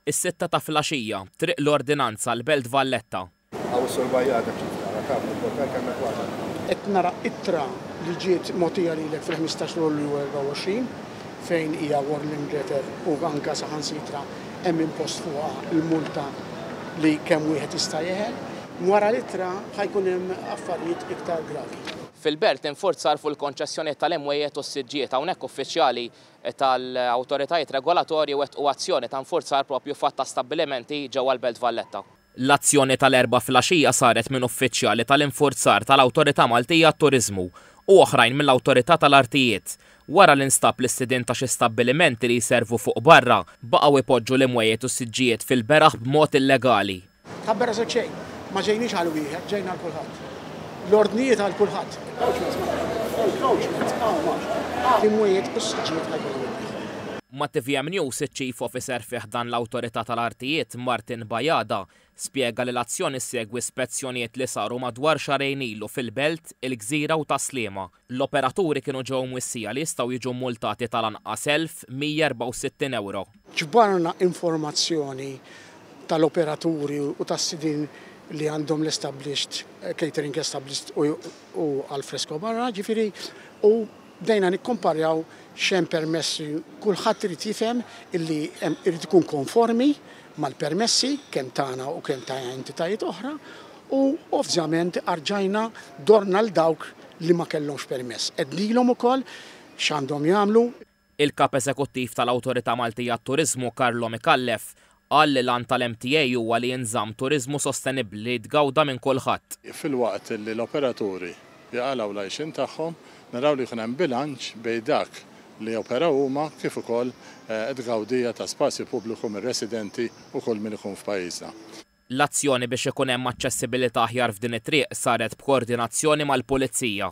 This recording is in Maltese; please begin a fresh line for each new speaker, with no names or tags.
Is-sitta ta' flaxija, Triq l-Ordinanza, l-Belt Valletta. Hawn is-Sur Bajada kif tara, taf li Portal
kellna kważi nagħlqu. Qed nara ittra li ġiet mogħtija lilek fil-ħmistax ta' Lulju 24 fejn hija warning letter u anke saħansitra hemm impost fuqha l-multa li kemm wieħed jista' jeħel. Wara l-ittra ħa jkun hemm affarijiet iktar gravi. Fil-Belt, infurzar
fuq il-konċessjonijiet tal-imwejjed u s-siġġiet. Hawnhekk uffiċjali tal-awtoritajiet regolatorji wettqu azzjoni ta' infurzar proprju f'għadd ta' stabbilimenti ġewwa l-Belt Valletta. L-azzjoni tal-Erbgħa filgħaxija saret minn uffiċjali tal-infurzar tal-Awtorità Maltija għat-Turiżmu u oħrajn mill-Awtorità tal-Artijiet, wara li nstab li s-sidien ta' xi stabbilimenti li jservu fuq barra baqgħu jpoġġu l-imwejjed u s-siġġijiet fil-beraħ b'mod illegali. Tħabber għażilt xejn.
Ma ġejniex għal wieħed, ġejna għal kulħadd. L-ordnijiet għal kulħadd. L-imwiet u s-siġġijiet ma jkunu minn wieħed.
Ma' tvm News iċ-Chief Officer fi ħdan l-Awtorità tal-Artijiet, Martin Bajada, spjega li l-azzjoni ssegwi spezzjonijiet li saru madwar xahrejn ilu fil-Belt, il-Gżira u Tas-Sliema. L-operaturi kienu ġew mwissija li jistgħu jiġu mmultati tal-anqas 1,164 ewro. Ġbarna
informazzjoni tal-operaturi u tas-sidien li għandhom l-established catering established u al fresco barra, ġifieri, u bdejna nikkumparjaw x'hemm permessi. Kulħadd irid jifhem illi hemm irid ikun konformi mal-permessi kemm tagħna u kemm ta' entitajiet oħra. U ovvjament arġajna dorna 'l dawk li ma kellhomx permess. Għednilhom ukoll x'għandhom jagħmlu. Il-Kap
Eżekuttiv tal-Awtorità Maltija għat-Turiżmu Carlo Micallef qal li l-għan tal-MTA huwa li jinżamm turiżmu sostenibbli li jitgawda minn kulħadd. Filwaqt li
l-operaturi jaqalgħu l-għajxien tagħhom, naraw li jkun hemm bilanċ bejn dak li joperaw huma kif ukoll t-tgawdija ta' spazju pubbliku mir-residenti u kull min ikun f'pajjiżna. L-azzjoni
biex ikun hemm aċċessibilità aħjar f'din it-triq saret b'koordinazzjoni mal-Pulizija.